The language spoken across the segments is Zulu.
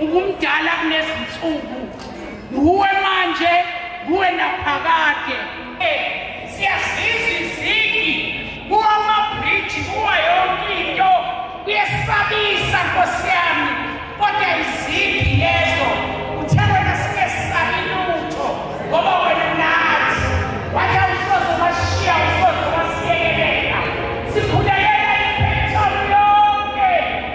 Ubumdala kunezinsuku. Nguwe manje, nguwe naphakade. Siyazizwa izigi kuwamabhriji kuwa yonke into kuyesabisa nkosi yami kodwa izigi lezo uthe wena singesabi lutho ngoba wena nathi wathi awusoze washiya usoze wasiyekelela sikhulekela iphethom yonke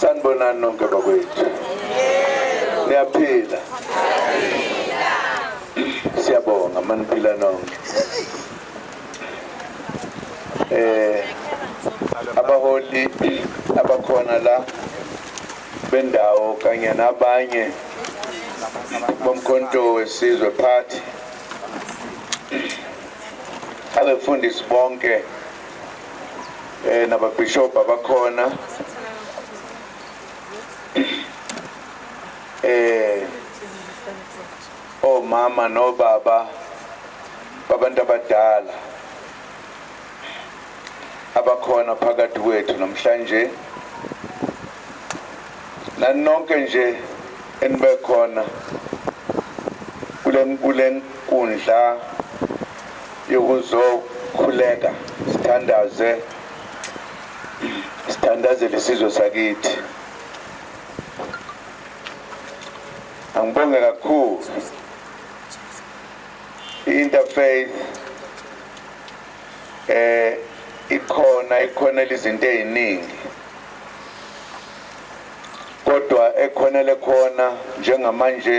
sanibonani nonke bakwethu niyaphila siyabonga maniphila nonke eh abaholi abakhona la bendawo kanye nabanye bomkhonto wesizwe party abefundisi bonke eh nababishop abakhona eh omama nobaba babantu abadala abakhona phakathi kwethu namhlanje nanonke nje enibekhona kule kule nkundla yokuzokhuleka sithandaze sithandazele isizwe sakithi angibonge kakhulu i-interfaith eh ikhona ikhonela izinto eziningi kodwa ekhonele khona njengamanje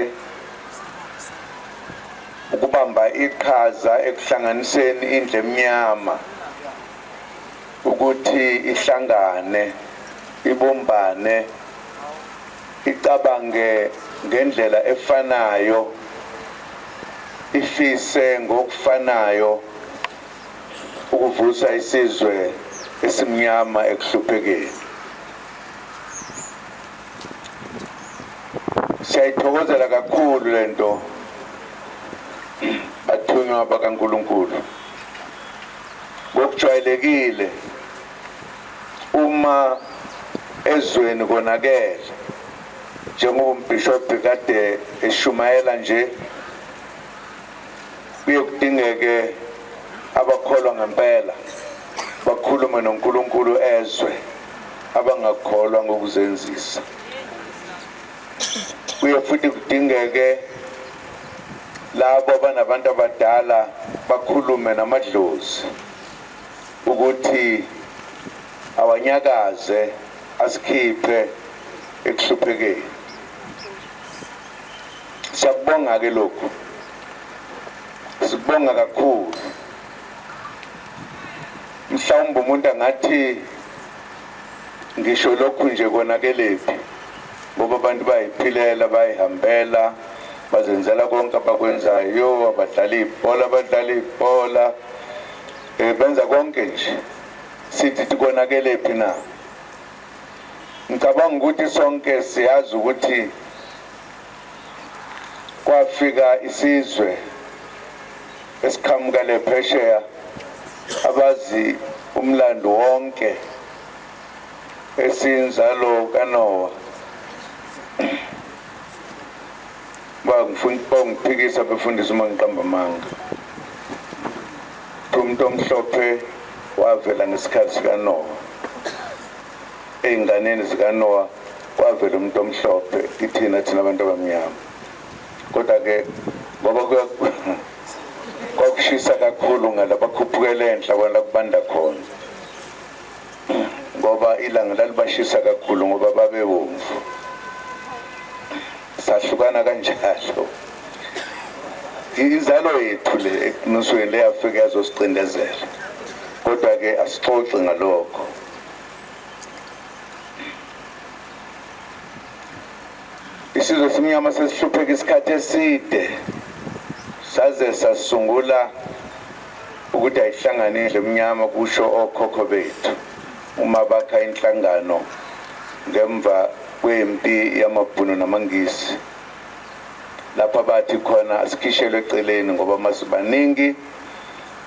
ukubamba iqhaza ekuhlanganiseni indle emnyama ukuthi ihlangane ibumbane icabange ngendlela efanayo ifise ngokufanayo ukuvusa isizwe esimnyama ekuhluphekeni siyayithokozela kakhulu le nto bathunywa bakankulunkulu ngokujwayelekile uma ezweni konakele njengoba umbhishobhi kade eshumayela nje kuye kudingeke abakholwa ngempela bakhulume nonkulunkulu ezwe abangakholwa ngokuzenzisa kuye futhi kudingeke labo abanabantu abadala bakhulume namadlozi ukuthi awanyakaze asikhiphe ekuhluphekeni siyakubonga-ke lokhu sikubonga kakhulu mhlawumbe umuntu angathi ngisho lokhu nje konakelephi ngoba abantu bayiphilela bayihambela bazenzela konke abakwenzayo abadlala ibhola abadlala ibhola um benza konke nje sithi tikonakelephi na ngicabanga ukuthi sonke siyazi ukuthi kwafika isizwe esiqhamuka le phesheya abazi umlando wonke esinzalo kanowa bangiphikisa befundisa uma ngiqamba amanga umuntu omhlophe wavela ngesikhathi sikanowa ey'nganeni zikanowa kwavela umuntu omhlophe kithina thina abantu abamnyama kodwa ke ngoba kwakushisa kakhulu ngala bakhuphukele enhla kwala kubanda khona ngoba ilanga lalibashisa kakhulu ngoba babewomvu sahlukana kanjalo inzalo yethu le eqinisweni leyafika yazosicindezela kodwa-ke asixoxi ngalokho Isizwe esimnyama sesihlupheka isikhathi eside saze sasungula ukuthi ayihlangane indlu emnyama kusho okhokho bethu uma bakha inhlangano ngemva kwempi yamabhunu namangisi lapha bathi khona asikhishelwe eceleni ngoba masibaningi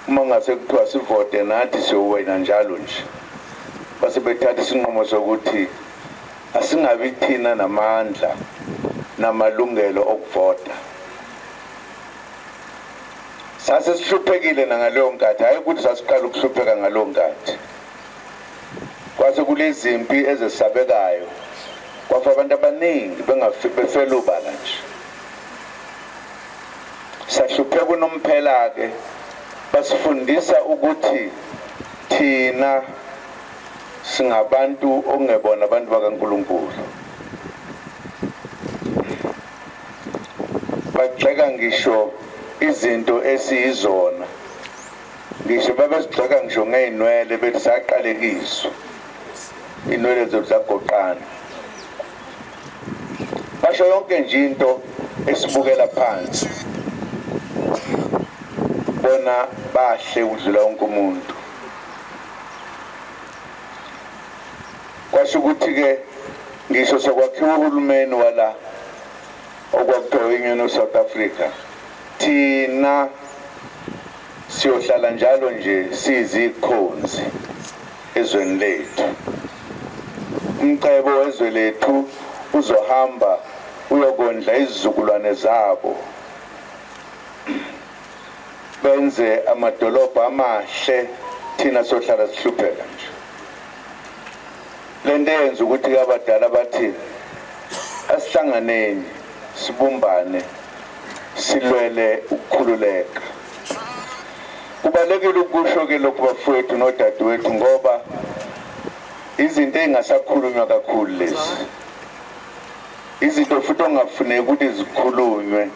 uma ngase kuthiwa sivote nathi siyowena njalo nje base bethatha isinqumo sokuthi Asingabi thina namandla namalungelo okuvota. Sase sihluphekile nangaleyo nkathi, hhayi ukuthi sasiqala ukuhlupheka ngaleyo nkathi. Kwase kulezimpi ezesabekayo, kwafa abantu abaningi befela ubala nje. Sahlupheka unomphela-ke basifundisa ukuthi thina singabantu okungebona abantu bakaNkulunkulu bagxeka ngisho izinto esiyizona ngisho babesigxeka ngisho ngey'nwele bethi saqalekiswa iy'nwele zethu zagoqana basho yonke nje into esibukela phansi bona bahle ukudlula wonke umuntu kwasho ukuthi-ke ngisho sekwakhiwa uhulumeni wala okwakuthiwa union of south africa thina siyohlala njalo nje siyizikhonzi ezweni lethu umcebo wezwe lethu uzohamba uyokondla izizukulwane zabo benze amadolobha amahle thina sohlala sihlupheka nje lento eyenza ukuthi kabadala bathi asihlanganeni sibumbane silwele ukukhululeka kubalekile ukusho ke lokhu bafowethu nodadewethu ngoba izinto ezingasakhulunywa kakhulu lezi izinto futhi ongafuneki ukuthi zikhulunywe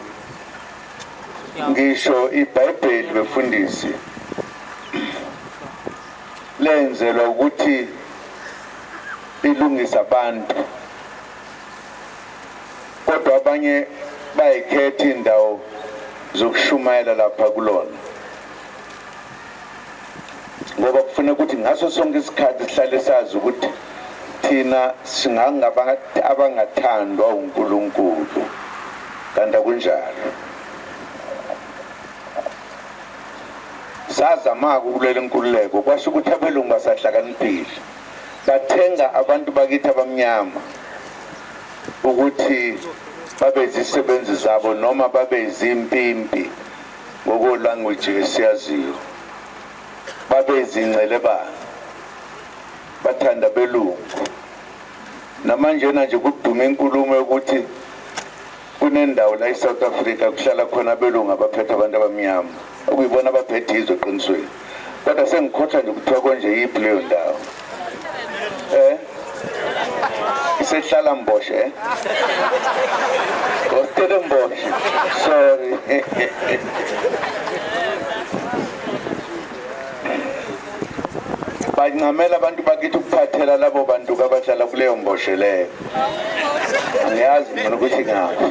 ngisho ibhayibheli befundisi lenzelwa ukuthi lilungise abantu kodwa abanye bayikhetha indawo zokushumayela lapha kulona ngoba kufuna ukuthi ngaso sonke isikhathi sihlale sazi ukuthi thina singangabantu abangathandwa uNkulunkulu kanti akunjalo sazama-ke ukulela inkululeko kwasho ukuthi abelungu basahlakaniphile bathenga abantu bakithi abamnyama ukuthi babe zisebenzi zabo noma babe zimpimpi ngokolanguage esiyaziyo babezincelebanga bathanda belungu namanjena nje kuduma inkulumo yokuthi kunendawo la e-south africa kuhlala khona abelungu abaphethe abantu abamnyama okuyibona abaphethe izwe eqinisweni kodwa sengikhohlwa nje kuthiwa konje yiphi leyo ndawo eh isehlala mboshe eh ngositele mboshe sorry bancamela abantu bakithi ukuphathela labo bantu kabahlala kuleyo mboshe leyo angiyazi mina ukuthi ngaphi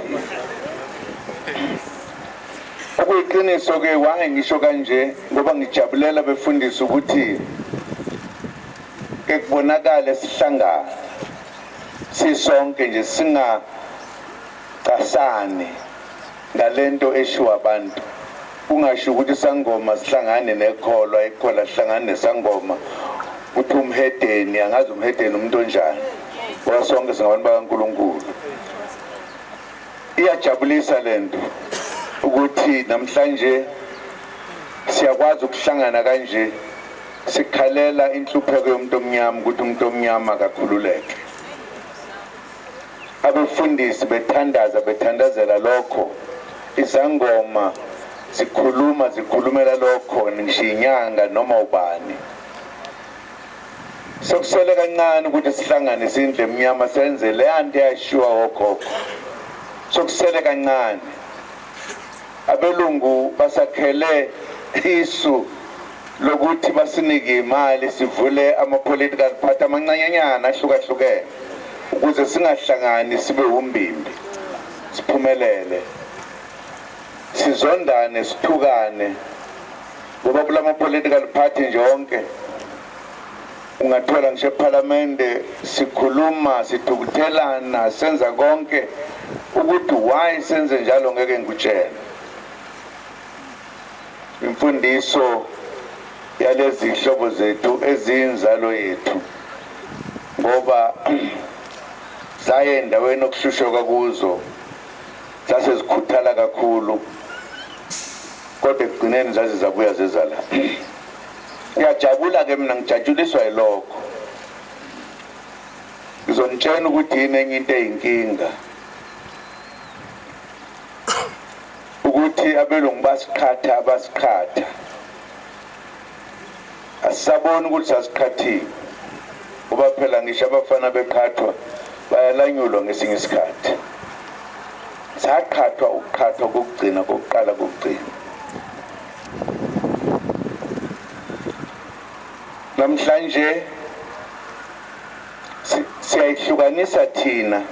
Okuyiqiniso ke why ngisho kanje ngoba ngijabulela befundisa ukuthi ekubonakala sihlangana sisonke nje singa casani ngalento eshiwa abantu kungasho ukuthi sangoma sihlangane nekholwa ikhola sihlangane nesangoma uthi umhedeni angazi umhedeni umuntu onjani ngoba sonke singabantu bakaNkuluNkulu Iyajabulisa le nto ukuthi namhlanje siyakwazi ukuhlangana kanje sikhalela inhlupheko yomuntu omnyama ukuthi umuntu omnyama akakhululeke abefundisi bethandaza bethandazela lokho izangoma zikhuluma zikhulumela lokho ngisho inyanga noma ubani Sokuswele kancane ukuthi sihlangane sindle emnyama senze leya nto eyashiwa okhokho. Sokusele kancane. Abelungu basakhele isu lokuthi basinike imali sivule ama-political party amancanyanyana ahlukahlukene ukuze singahlangani sibe wumbimbi siphumelele sizondane sithukane ngoba kula ma-political party nje onke ungathola ngisho ephalamende sikhuluma sithukuthelana senza konke ukuthi why senze njalo ngeke ngikutshele imfundiso yalezi hlobo zethu eziyinzalo yethu ngoba zaye endaweni okushushoka kuzo zase zikhuthala kakhulu kodwa ekugcineni zaze zabuya zezala ngiyajabula ke mina ngijatshuliswa yilokho ngizonitshena ukuthi yini enye into eyinkinga ukuthi abelungu basiqhatha basiqhatha asisaboni ukuthi sasiqhathile kuba phela ngisho abafana beqhathwa bayalanyulwa ngesinye isikhathi saqhathwa ukuqhathwa kokugcina kokuqala kokugcina namhlanje siyayihlukanisa thina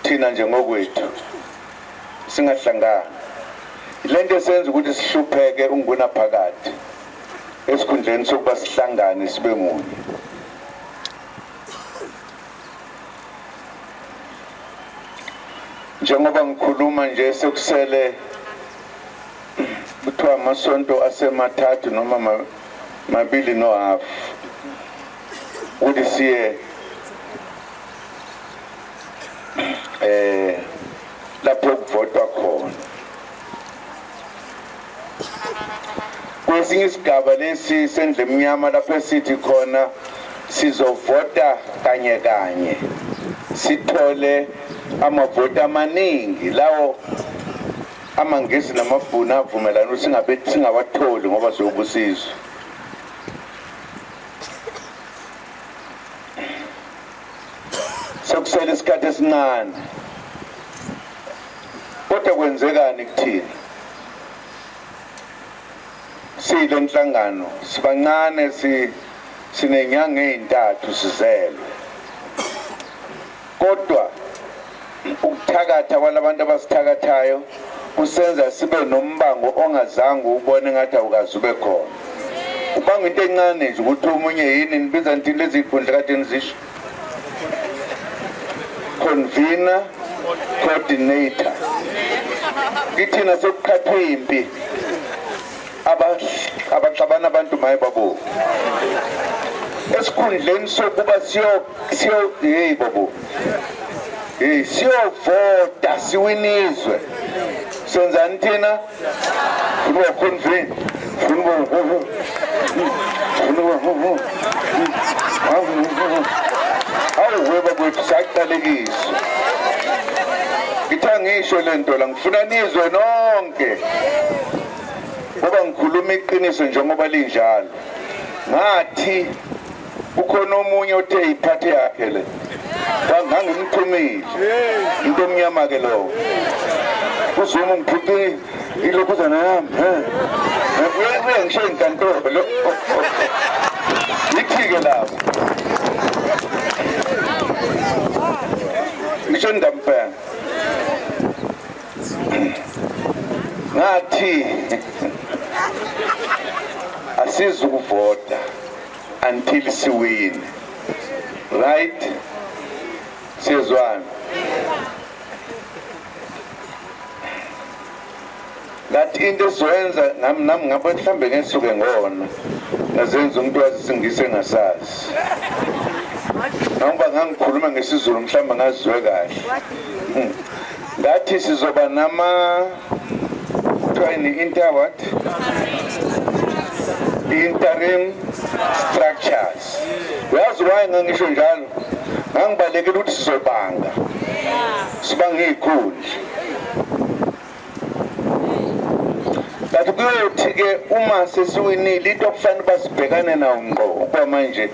thina njengokwethu singahlangani le nto esenza ukuthi sihlupheke unguna phakathi esikhundleni sokuba sihlangane sibe munye njengoba ngikhuluma nje sekusele kuthiwa amasonto asemathathu noma mabili nohafu ukuthi siye eh lapho kuvotwa khona kwesinye isigaba lesi sendle emnyama lapho esithi khona sizovota kanye kanye sithole amavoti amaningi lawo amangisi namabhunu avumelana ukuthi singabe singawatholi ngoba siyobusizwa sekusele isikhathi esincane kodwa kwenzekani kuthina sile nhlangano sibancane si sinenyanga ezintathu sizelwe kodwa Ukuthakatha kwalabantu abasithakathayo kusenza sibe nombango ongazange ubone ngathi awukazi ube khona ubanga into encane nje ukuthi omunye yini nibiza nithini lezi y'khundla kade nizisho convener coordinator kithina sekuqhathwe impi abaxabana abantu maye babo esikhundleni sokuba siyo siyo hey babo hey siyovota siwinizwe senzani thina funa ukhonvin funa ukhonvin funa ukhonvin awuhweba kwethu saqalekiswa ngithe ngisho lento la Ngifuna nizwe nonke ngoba ngikhuluma iqiniso njengoba linjalo. Ngathi ukhona omunye othe iphathe yakhe le ngangimxhumile into omnyama ke lowo uzuma ngiphuthi ilokhuzana yami uyabuya ngisho inkantolo lo yithi-ke lapho ngisho ndamfela ngathi asizukuvota until siwine right siyezwana ngathi into esizoyenza nami nami ngabe mhlawumbe ngesuke ngona ngazenza umuntu wazisingise engasazi noma ngangikhuluma ngesizulu mhlawumbe ngazizwe kahle hmm. ngathi sizoba nama kuthiwa yini inter what interim structures uyazi why ngangisho njalo ngangibalekela ukuthi sizobanga sibanga iy'khundla kanti kuyothi-ke uma sesiwinile into okufanele uba sibhekane nawo ngqo ukuba manje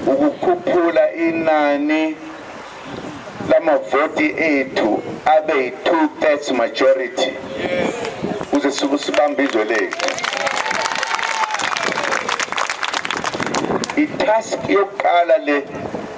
ukukhuphula inani lamavoti ethu abe yi-two thirds majority kuze sibambe izwe lethu i-task yokuqala le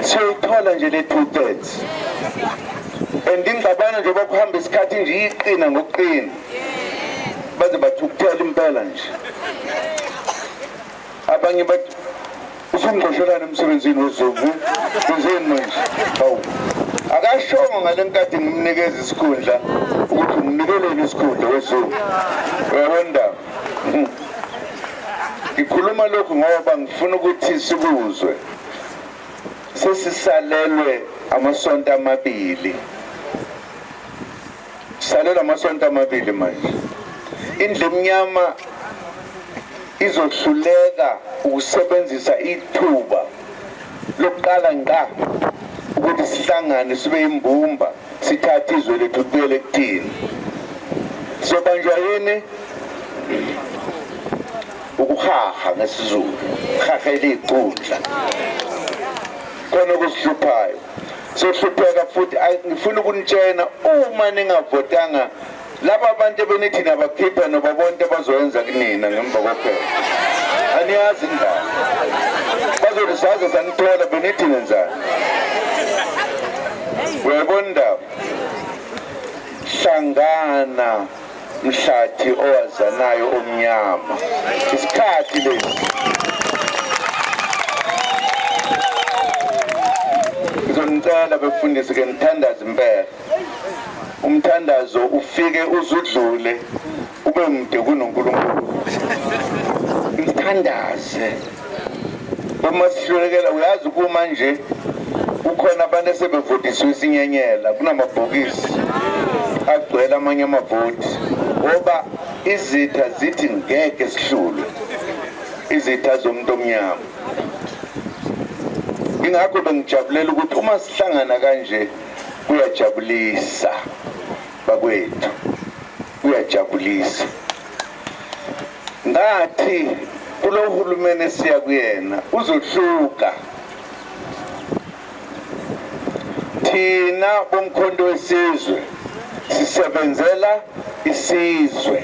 siyoyithola nje le two thirds and ingxabano nje bakuhamba isikhathi nje iyiqina ngokuqina baze bathukuthela impela nje abanye bathi usungqoshelana emsebenzini wezovu wenzeni manje hawu akashongo ngale nkathi ngimnikeza isikhundla ukuthi ngimnikelele isikhundla wezovu uyabona hmm. ngikhuluma lokhu ngoba ngifuna ukuthi sikuzwe sesisalelwe amasonto amabili salelwe amasonto amabili manje indlu emnyama izohluleka ukusebenzisa ithuba lokuqala ngqa ukuthi sihlangane sibe imbumba sithathe izwe lethu kubuyele kuthini sobanjwa yini ukuhaha ngesizulu haha eliyiqundla khona okusihluphayo sohlupheka futhi ngifuna ukunitshena uma ningavotanga laba abantu ebenithi nabakhipha noba bonke bazoyenza kunina ngemva kophela aniyazi indaba bazothi saze sanithola benithi nenzani uyayibona indaba hlangana mhlathi owazanayo omnyama isikhathi lesi ngizonicela befundisi ke mthandazi impela umthandazo ufike uzudlule ube mde kunonkulunkulu mthandaze uma sihlulekela uyazi kuma nje kukhona abantu esebevotisiwe isinyenyela kunamabhokisi agcwele amanye amavoti ngoba izitha zithi ngeke sihlulwe izitha zomuntu omnyama ingakho bengijabulela ukuthi uma sihlangana kanje kuyajabulisa bakwethu Kuyajabulisa ngathi kulo hulumeni esiya kuyena uzohluka thina bomkhonto wesizwe sisebenzela isizwe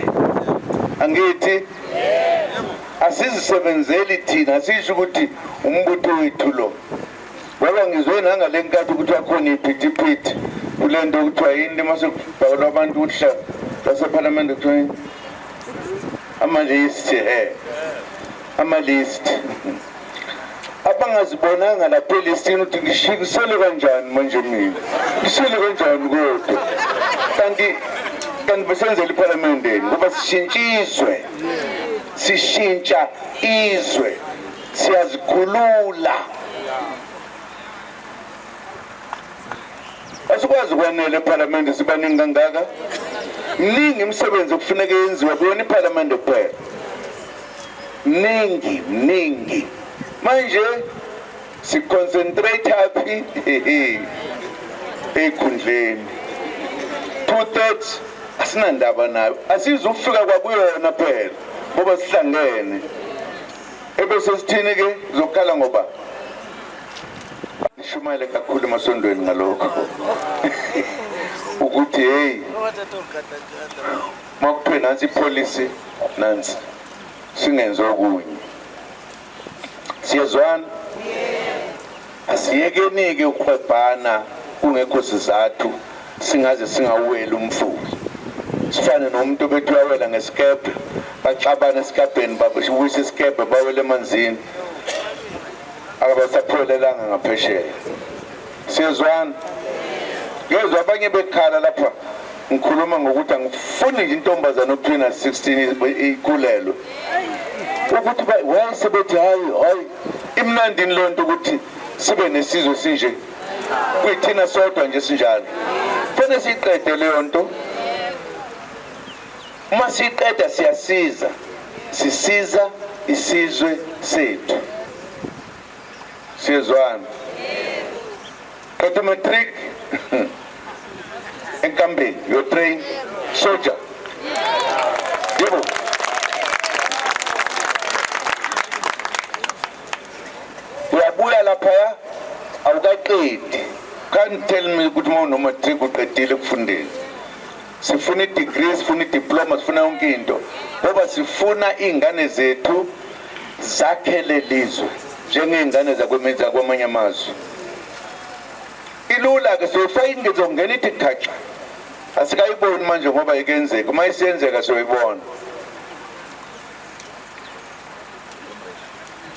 angithi asizisebenzeli thina sisho ukuthi umbutho wethu lo Baba ngizwe nangale nkathi kuthiwa khona iphithiphithi kule nto kuthiwa yini uma sekubhakelwa abantu ukuhla basephalamende kuthiwa yini amalisti he amalisti abangazibonanga lapha elistini ukuthi ngishikisele kanjani manje mina ngisele kanjani kodwa kanti kanti besenzela iphalamendeni ngoba sishintsha izwe sishintsha izwe siyazikhulula asikwazi kwanele ephalamende sibaningi kangaka mningi imisebenzi okufuneka yenziwa kuyona iphalamende kuphela mningi mningi manje siconcentrate aphi ekhundleni two thirds asinandaba nayo asizufika kwakuyona phela ngoba sihlangene Ebese sithini ke zokukhala ngoba nishumayele kakhulu emasondweni ngalokho ukuthi hey makuthiwe nansi ipolicy nansi singenzi okunye siyezwana Asiyekenike ukuhwebhana kungekho sizathu singaze singawuweli umfula. Sifane nomuntu obethi uyawela ngesikebhe, baxabane esikabheni babuyise isikebhe bawele emanzini. Akabasaphelelanga ngaphesheya. Siyezwana? Ngezwa abanye bekhala lapha ngikhuluma ngokuthi angifuni nje intombazane okuthiwe na-16 ikhulelwe ukuthi why sebethi hayi hayi imnandini lonto ukuthi sibe nesizwe sinje kuyithina sodwa nje sinjalo fanele siqede leyo nto uma siqeda siyasiza sisiza isizwe sethu siyezwana Qeda matric enkambeni your train soldier. Yebo. Uyabuya lapha ya awukaqedi. Can't tell me ukuthi uma unomatric uqedile kufundeni. sifuna i-degree sifuna i-diploma sifuna yonke into ngoba sifuna iy'ngane zethu zakhele lizwe njengey'ngane zakwemenza kwamanye amazwe ilula-ke soyifaka ingezo ngena ithi khaxa asikayiboni manje ngoba ikenzeka uma isiyenzeka soyibona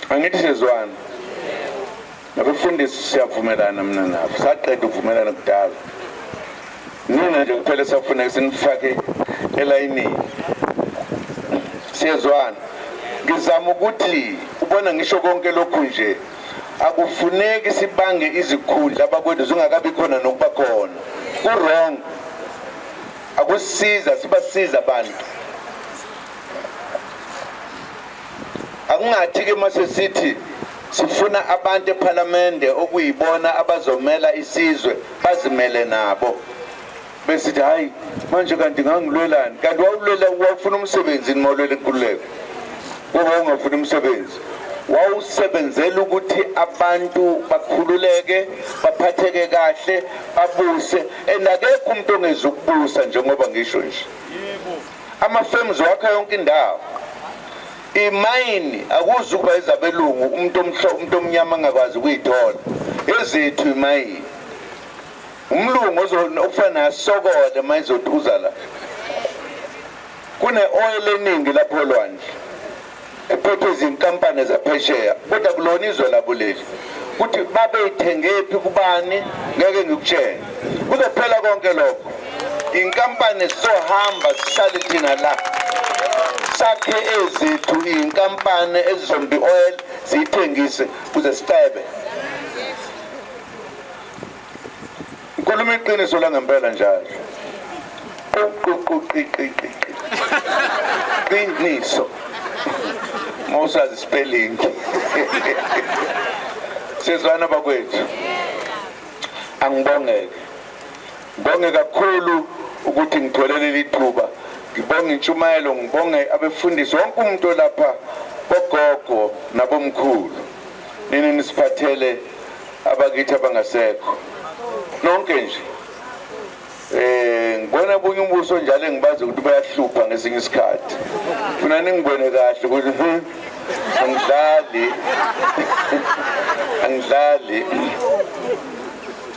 angithi sezwana Nabefundisi siyavumelana mina nabo, saqeda ukuvumelana kudala. Nina nje kuphela safuneka sinifake elayinini, siyezwana. Ngizama ukuthi ubona ngisho konke lokhu nje akufuneki sibange izikhundla abakwethu zingakabi khona nokuba khona ku-wrong akusiza sibasiza abantu akungathi-ke uma sesithi Sifuna abantu ePhalamende okuyibona abazomela isizwe bazimele nabo. Besithi hayi manje kanti ngangilwelani? Kanti wawulwela wawufuna umsebenzi noma ulwela inkululeko? Ngoba ungafuna umsebenzi. Wawusebenzela ukuthi abantu bakhululeke, baphatheke kahle, babuse and akekho umuntu ongeza ukubusa njengoba ngisho nje. Ama-firms wakha yonke indawo. imayini akuzukuba ezabelungu umuntu omhlo umuntu omnyama angakwazi ukuyithola ezethu imayini umlungu okufanele asokole uma izothuza la kune-oil eningi lapho olwandle ephethwe izinkampani zaphesheya kodwa kulona izwe lakuleli ukuthi babeyithengephi kubani ngeke ngikutshele kuzophela konke lokho inkampani sizohamba sihlale thina la sakhe ezethu iy'nkampani ezizombi oil ziyithengise kuze sicebe Ngikhuluma iqiniso la ngempela njalo. Ququqiqiqi. Qiniso. Mawusazi spelling. Sizwana bakwethu. Angibongeke. Ngibonge kakhulu ukuthi ngithole leli thuba. Ngibonge intshumayelo, ngibonge abefundisi wonke umuntu olapha bogogo nabomkhulu. nini nisiphathele abakithi abangasekho nonke nje eh ngibona bunye umbuso njalo engibazi ukuthi bayahlupha ngesinye isikhathi funa ningibone kahle ukuthi hmm, angidlali angidlali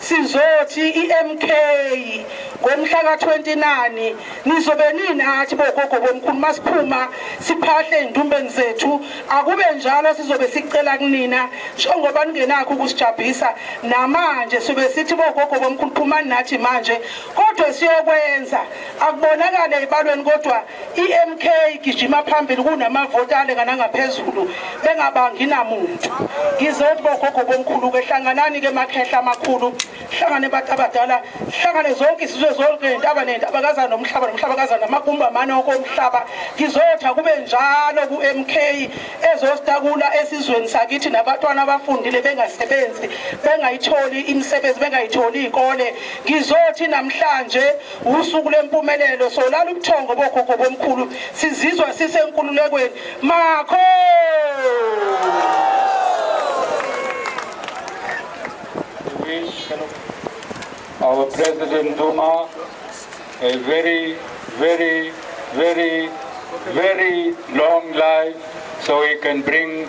Sizothi iMK ngomhla ka-29 nizobe ninathi bogogo bomkhulu masiphuma siphahle ey'ndumbeni zethu akube njalo sizobe sicela kunina njengoba ningenakho ukusijabhisa namanje sobe sithi bogogo bomkhulu phumani nathi manje kodwa siyokwenza akubonakale ey'balweni kodwa IMK igijima phambili kunamavoti alengana ngaphezulu bengabangi namuntu. Ngizothi bogogo bomkhulu ke hlanganani ke makhehla amakhulu, hlangane abantu abadala, hlangane zonke isizwe zonke nentaba nentaba kaza nomhlaba nomhlaba kaza namagumba mane okomhlaba. Ngizothi akube njalo kuMK ezositakula esizweni sakithi nabatwana abafundile bengasebenzi, bengayitholi imisebenzi, bengayitholi ikole. Ngizothi namhlanje usuku lempumelelo solala ubuthongo bogogo bomkhulu sizizwa sisenkululekweni makho our president Duma a very very very very long life so he can bring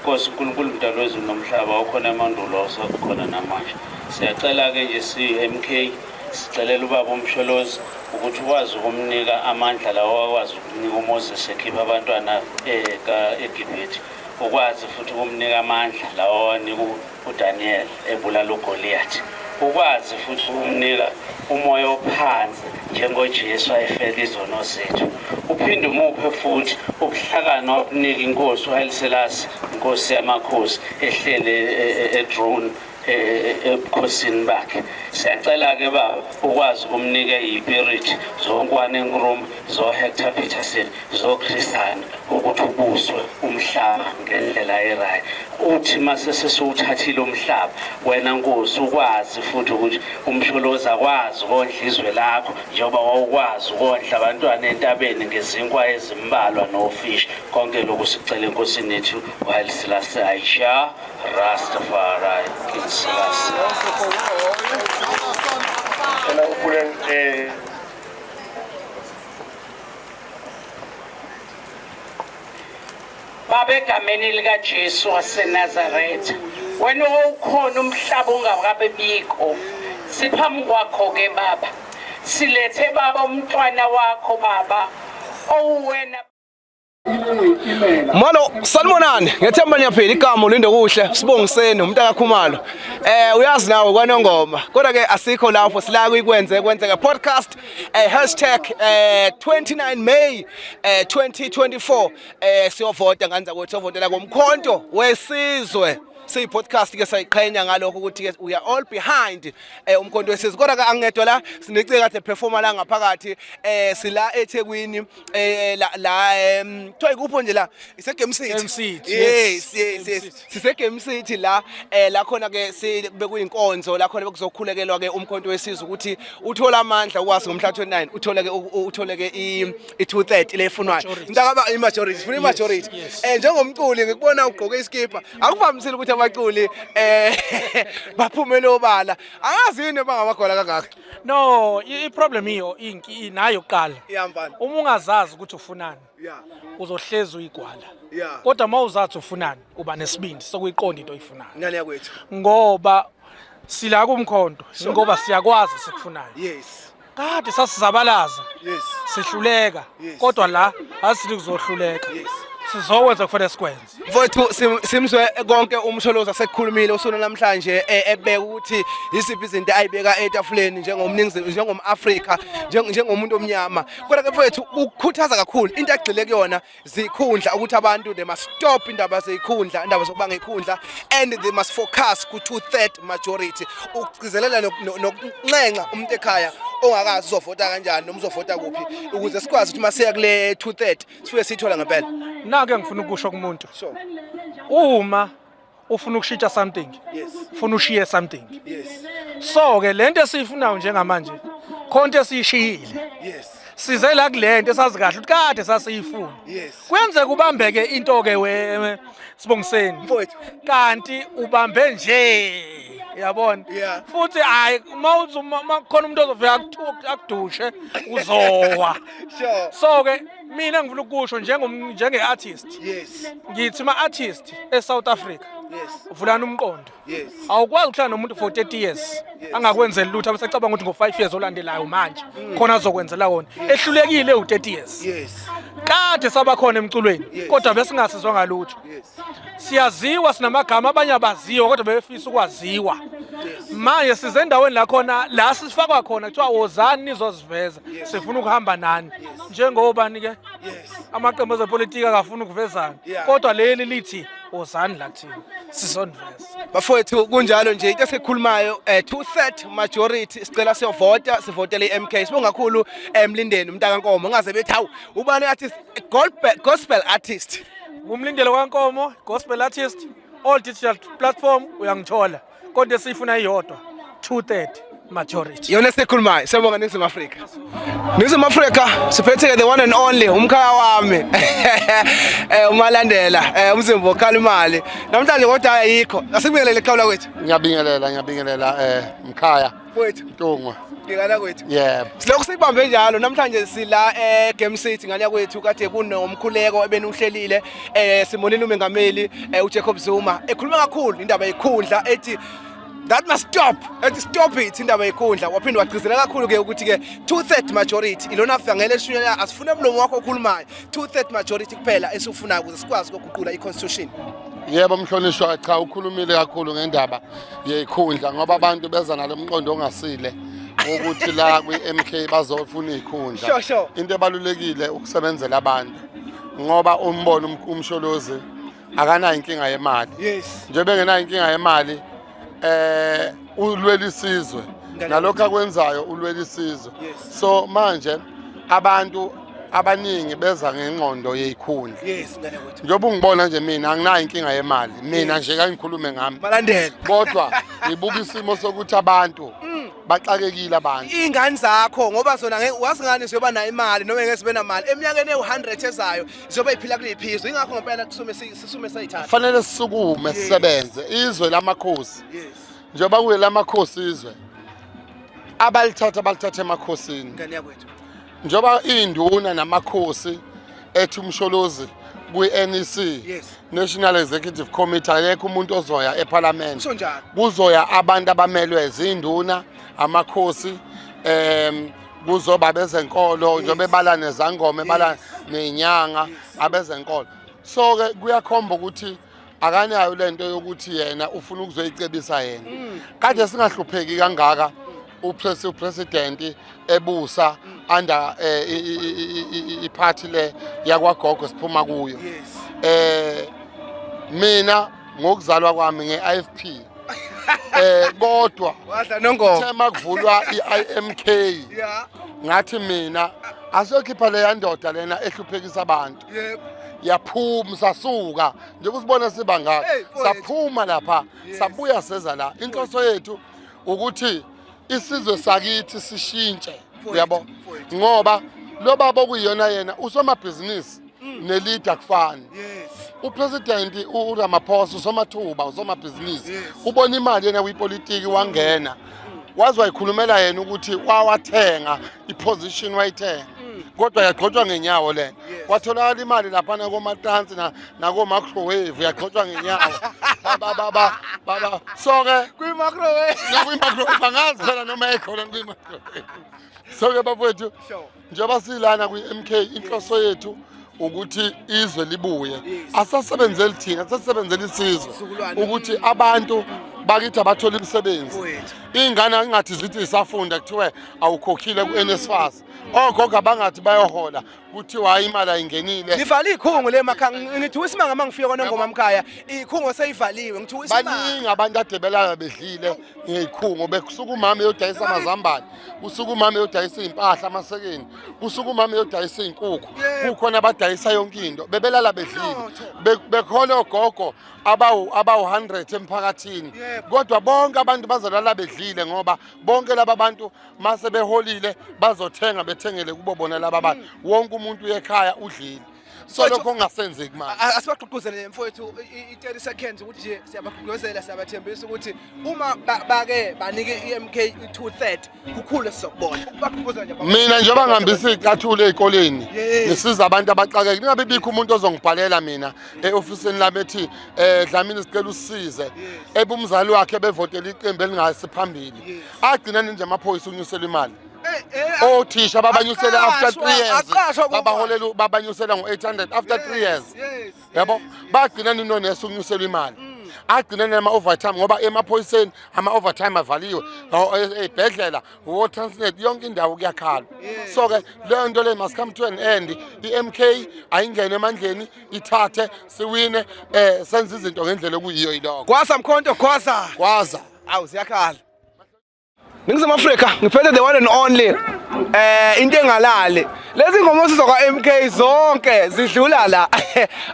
Nkosi uNkulunkulu mdali wezulu nomhlaba okhona emandulo osekhona namanje siyacela-ke nje si-MK sicelela ubaba uMsholozi ukuthi ukwazi ukumnika amandla lawo akwazi ukunika uMoses ekhipha abantwana eh, eGibhithe ukwazi futhi ukumnika amandla lawo awanika uDaniel ebulala uGoliath ukwazi futhi ukumnika umoya ophansi njengoJesu ayefela izono zethu uphinde umuphe futhi ubuhlakani wabunika inkosi uHayiselasi inkosi yamakhosi ehlele edrone e, e, e, ebukhosini bakhe siyacela-ke baba ukwazi ukumnika iyipiriti zonkwane nkruma zoHector Peterson zoChrisana ukuthi ubuswe umhlaba ngendlela erayi uthi mase sesiwuthathile umhlaba wena nkosi ukwazi futhi ukuthi umsholozi akwazi ukondla izwe lakho njengoba wawukwazi ukondla abantwana entabeni ngezinkwa ezimbalwa nofishi konke lokhu sicela enkosini yethu while silase aisha rastafari king silase Hello, Puran. Eh, Baba egameni likaJesu waseNazaretha wena owukhona umhlaba ungakabe bikho siphambi kwakho ke baba silethe baba umntwana wakho baba owuwena Molo sanibonani ngethemba niyaphila igama ulinde kuhle sibongiseni umntaka Khumalo eh uyazi nawe kwanongoma kodwa ke asikho lapho sila kuyikwenze kwenzeka podcast eh hashtag eh 29 May eh 2024 eh siyovota nganza ukuthi siyovotela komkhonto wesizwe siyi podcast ke sayiqhenya ngalokho ukuthi ke we are all behind eh umkhonto wesizwe kodwa ke angedwa la sinicika the performer la ngaphakathi eh sila eThekwini eh la la em kuthiwa ikupho nje la ise Game City Game City, yes yes Game yes City. sise Game City la eh la khona ke si bekuyinkonzo la khona bekuzokhulekelwa ke umkhonto wesizwe ukuthi uthola amandla ukwazi ngomhla 29 uthole ke u- uthole ke i i 230 lefunwayo Majority. ngicabanga i majority funa i majority yes. eh njengomculi ngikubona ugqoke iskipha akuvamisile ukuthi abaculi eh baphumele obala angazi yini bangamagola kangaka no i- i-problem iyo inki nayo kuqala Yeah, mfana. uma ungazazi ukuthi ufunani Yeah. uzohlezi uyigwala Yeah. kodwa uma uzathi ufunani uba nesibindi sokuyiqonda into oyifunayo Ngane yakwethu. ngoba sila kumkhonto ngoba siyakwazi sikufunayo Yes. kade sasizabalaza Yes. sihluleka Yes. kodwa la asili kuzohluleka Yes. sizokwenza kufanele sikwenze Mfowethu simzwe konke umsholozi asekukhulumile usuna namhlanje e, ebeka ukuthi yisiphi izinto ayibeka etafuleni njengomningizimu njengomAfrika njengomuntu omnyama kodwa ke mfowethu ukukhuthaza kakhulu into agxile kuyona zikhundla ukuthi abantu they must stop indaba zezikhundla indaba zokuba ngekhundla and they must focus ku two third majority ukugcizelela nokunxenxa umuntu ekhaya ongakazi uzovota kanjani noma uzovota kuphi ukuze sikwazi ukuthi masiya kule two third sifike siyithola ngempela nake engifuna ukusho kumuntu sure uma ufuna ukushintsha something yes ufuna ushiye something yes so ke lento esiyifunayo njengamanje khonto esishiyile yes size la kulento esazi kahle ukuthi kade sasiyifuna yes kwenze kubambeke into ke we sibongiseni mfowethu kanti ubambe nje yabona Yeah. futhi hayi uma uthi uma- uma kukhona umuntu ozofika akuthu- akudushe uzowa Sure. so ke mina ngifuna ukusho njengom- njenge-artist Yes. ngithi ma-artist e-south africa Yes. vulani umqondo Yes. awukwazi ukuhlala nomuntu for 30 years angakwenzeli lutho abesacabanga ukuthi ngo-5 years olandelayo manje khona azokwenzela wona ehlulekile u-30 years Yes. kade sabakhona emculweni Yes. kodwa besingasizwa ngalutho Yes. siyaziwa sinamagama abanye abaziwa kodwa bebefisa ukwaziwa manje size endaweni la khona la sifakwa khona kuthiwa wozani nizozwa ukuveza sifuna ukuhamba nani njengobani ke amaqembu ezepolitiki akafuni ukuvezana kodwa leli lithi wozani la kuthina sizoniveza bafowethu kunjalo nje into esikhulumayo um eh, two third majority sicela siyovota sivotele i-m k sibonga kakhulu emlindeni eh, umntakankomo ngaze bethi hawu ubani artist gospel artist ngumlindelo kankomo gospel artist all digital platform uyangithola kodwa esiyifuna iyodwa 230 majority yona esikhulumayo siyabonga ningizimu afrika ningizimu afrika siphethe-ke the one and only umkhaya wami eh umalandela eh umzimba okhala imali namhlanje kodwa ayikho asibingelele iqhawu lakwethu ngiyabingelela ngiyabingelela eh mkhaya Wethu Ntungwa. Ngikala kwethu. Yebo. Silokhu sibambe njalo namhlanje sila eh Game City ngale kwethu kade kunomkhuleko ebenuhlelile eh simonile umengameli eh uJacob Zuma ekhuluma kakhulu indaba yekhundla ethi that must stop ethi stop it indaba yekhundla waphinde wagcizelela kakhulu ke ukuthi ke two third majority ilona fangele eshunyela asifune umlomo wakho okhulumayo two third majority kuphela esifunayo ukuze sikwazi ukuguqula i constitution Yebo mhlonishwa cha ukhulumile kakhulu ngendaba yeyikhundla ngoba abantu beza nalo mqondo ongasile ukuthi la kwi-MK bazofuna izikhundla Sure, sure. into ebalulekile ukusebenzela abantu ngoba umbona um- umsholozi akanayo inkinga yemali Yes. njengoba engenayo inkinga yemali eh ulwela isizwe Ngale- nalokho akwenzayo ulwela isizwe Yes. so manje abantu abaningi beza ngenqondo yeyikhundla yes ngane kwethu njengoba ungibona nje mina anginayo inkinga yemali mina nje kangikhulume ngami malandela kodwa ngibuka isimo sokuthi abantu mm. baxakekile abantu ingane zakho ngoba zona wazi ngani siyoba nayo imali noma ngeke sibe namali eminyakeni ewu-100 ezayo siyoba iphila kuliphizo ingakho ngempela kusume sisume sayithatha fanele sisukume sisebenze izwe lamakhosi yes njengoba kuyelamakhosi izwe abalithatha balithatha emakhosini ngane yakwethu njengoba iy'nduna namakhosi ethi umsholozi kwi-nec yes. national executive committee akekho umuntu ozoya ephalamende kuzoya abantu abamelwe ziy'nduna amakhosi um kuzoba abezenkolo yes. njengoba ebala nezangoma ebala yes. ney'nyanga yes. abezenkolo so-ke kuyakhomba ukuthi akanayo le nto yokuthi yena ufuna ukuzoyicebisa yena mm. kade singahlupheki kangaka upresidenti ebusa under eh, iphathi le yakwagogo siphuma kuyo eh mina ngokuzalwa kwami nge-ifp eh kodwa thema kuvulwa i-imk ngathi mina asokhipha leya ndoda lena ehluphekisa abantu yebo yaphuma sasuka njengoba usibona siba ngaka saphuma lapha sabuya seza la inhloso yethu ukuthi isizwe sakithi sishintshe uyabo ngoba lo baba okuyiyona yena usomabhizinisi mm. nelida kufani upresident uramaphosa usomathuba usomabhizinisi ubona imali yena kwipolitiki wangena waze wayikhulumela yena ukuthi wawathenga iposition wayithenga mm. kodwa yagxotshwa ngenyawo lena kwatholakala imali laphana komatansi nakomacrowave yagxotshwa ngenyawo so-ke kwi-macrowave angazi phela noma ekhona kwi-macrowave so-ke bafowethu njengoba silana kwi-mk inhloso yethu ukuthi izwe libuye asasebenzeli thina asasebenzeli isizwe ukuthi abantu bakithi abathole imisebenzi iy'ngane ingathi zithi zisafunda kuthiwe awukhokhile ku-nsfas ogogo abangathi bayohola kuthiwa hayi imali ayingenile livala iy'khungo le makha ngithiwa isimanga uma ngifika kwanongoma mkhaya iy'khungo seyivaliwe ngithiwa baningi abantu adebelala bedlile ngiyikhungo bekusuka umama eyodayisa amazambane kusuka umama eyodayisa iy'mpahla amasekeni kusuka umama eyodayisa iy'nkukhu kukhona abadayisa yonke into bebelala bedlile bekhona ogogo abawu-hundred emphakathini kodwa bonke abantu bazolala bedlile ngoba bonke laba bantu mase beholile bazothenga bethengele kubo bona laba bantu mm. wonke umuntu uyekhaya udlile so lokho kungasenzeki manje A- asibagqugquzele mfowethu i- i- i-30 seconds ukuthi nje siyabagqugquzela siyabathembisa ukuthi uma ba- bake banike i-mk i-230 kukhulu esizokubona bagqugquzela nje mina njengoba ngihambisa iy'cathulo ey'koleni Yes. ngisiza abantu abaxakeke ningabe bikho umuntu ozongibhalela mina e-ofisini lami ethi um dlamini sicela usisize ebe umzali wakhe bevotela iqembu elingasi phambili agcina ninje amaphoyisa unyuselwa imali othisha babanyusele after three years babaholela babanyusela ngo-800 after three years yabo bagcina nino neso ukunyuselwa imali mm. agcine nema-overtime ngoba emaphoyiseni ama-overtime avaliwe mm. ey'bhedlela e, wotransnet yonke indawo kuyakhala so-ke leyo nto leyo must come to an end i-m k ayingene emandleni ithathe siwine um eh, senze izinto ngendlela okuyiyo yiloko kwaza mkhonto kwaza kwaza awu ziyakhala Ningizimu Afrika ngiphethe the one and only eh into engalali lezi ngoma sizokwa MK zonke zidlula la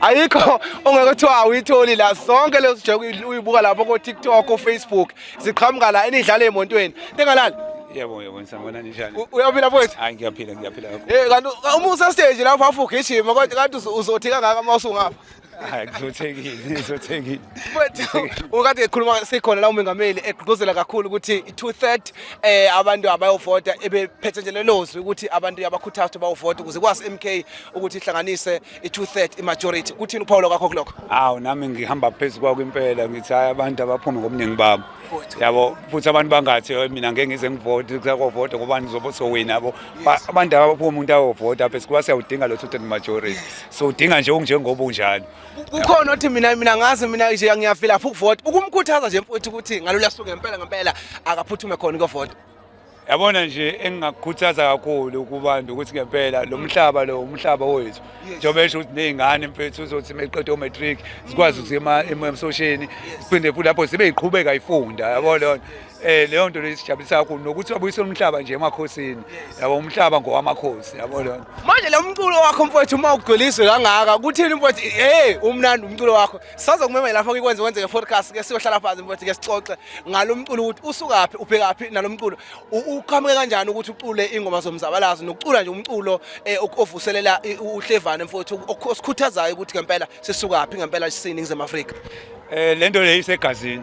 ayikho ongeke kuthiwa awuyitholi la zonke lezo sijeke uyibuka lapho ko TikTok ko Facebook ziqhamuka la enidlala emontweni engalali Yebo yebo ngisangona njani? Uyaphila mfowethu? Hayi ngiyaphila ngiyaphila. Eh kanti uma usestage lapho afugijima kodwa kanti uzothika ngaka uma usungapha. hayi kuzothekile izothekile mfethu ukade ekhuluma sikhona la umengameli egqugquzela kakhulu ukuthi i-two third eh abantu abayovota ebephethe nje lelozwi ukuthi abantu yabakhuthaza ukuthi bayovota ukuze kwasi MK ukuthi ihlanganise i-two third i-majority kuthini uphawulo kwakho kulokho hawu nami ngihamba phezu kwakho impela ngithi hayi abantu abaphume ngobuningi babo yabo futhi abantu bangathi mina ngeke ngize ngivoti kusakovota ngobani zobo sowina yabo abantu abaphuma umuntu awovota apha sikuba siyawudinga lo two-third majority siwudinga nje unjengoba unjalo kukhona othi mina mina ngazi mina nje ngiyafila lapho ukuvota ukumkhuthaza nje mfowethu ukuthi ngalula suku ngempela ngempela akaphuthume khona ukuvota yabona nje engingakukhuthaza kakhulu kubantu ukuthi ngempela lo mhlaba lo umhlaba wethu njengoba esho ukuthi ney'ngane mfethu uzothi meqeda o-matric zikwazi ukuthi emsosheni siphinde futhi lapho zibe yiqhubeka ifunda yabo lona eh leyo nto lesijabulisa kakhulu nokuthi babuyisela umhlaba nje emakhosini yabo umhlaba ngowamakhosi yabo lona manje lo mculo wakho mfowethu uma ugcwelizwe kangaka kuthini mfowethu hey umnandi umculo wakho saze kumema lapho kikwenze kwenzeke podcast ke siyohlala phansi mfowethu ke sixoxe ngalo mculo ukuthi usukaphi ubhekaphi nalo mculo uqhamuke kanjani ukuthi ucule ingoma zomzabalazo nokucula nje umculo eh, ovuselela uhlevane mfowethu osikhuthazayo ukuthi ngempela sisukaphi ngempela sisini ngize Afrika Eh lento le isegazini.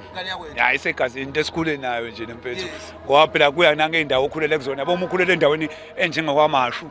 Ya isegazini into esikhule nayo nje nempethu. Ngoba phela kuya nange indawo okhulele kuzona. Yabo umkhulele endaweni enjengakwaMashu,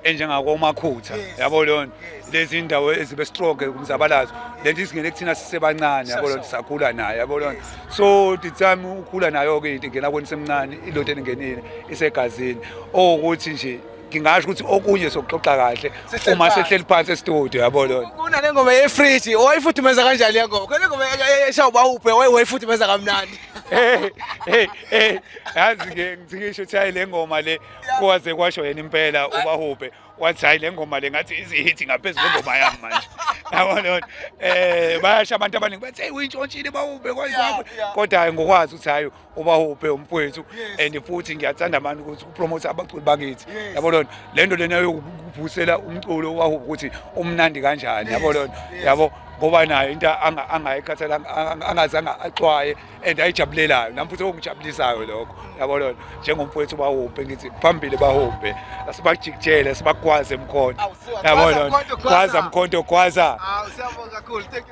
enjengakwaMakhutha. Yabo leyo lezi indawo ezibe strong kumzabalazo. Lento isingene kuthina sisebancane yabo leyo sakhula nayo yabo leyo. So the time ukhula nayo ke into ingena kweni semncane ilothe engenile isegazini. Okuthi nje ngingasho ukuthi okunye sokuxoxa kahle uma sehleli phansi estudio yabo lona kunale ngoma yefridge wayifuthumeza kanjani le ngoma kule ngoma esha ubawuphe wayifuthumeza kamnandi hey hey hey yazi ke ngisho ukuthi hayi le ngoma le kwaze kwasho yena impela ubahubhe wathi hayi le ngoma le ngathi izihithi ngaphezulu ngoma yami manje yabo lona eh bayasha abantu abaningi bathi hey uyintshontshile bawubhe kwayizakho kodwa ngokwazi ukuthi hayi ubahuphe umfowethu and futhi ngiyathanda abantu ukuthi upromote abaculi bakithi yabo lona le nto lena yokuvusela umculo ubahuphe ukuthi umnandi kanjani yabo lona yabo ngoba nayo into angayikhathela angazange axwaye and ayijabulelayo nami futhi okungijabulisayo lokho yabo lona njengomfowethu ubahuphe ngithi phambili bahuphe asibajikijele sibagwaze mkhonto yabo lona gwaza mkhonto gwaza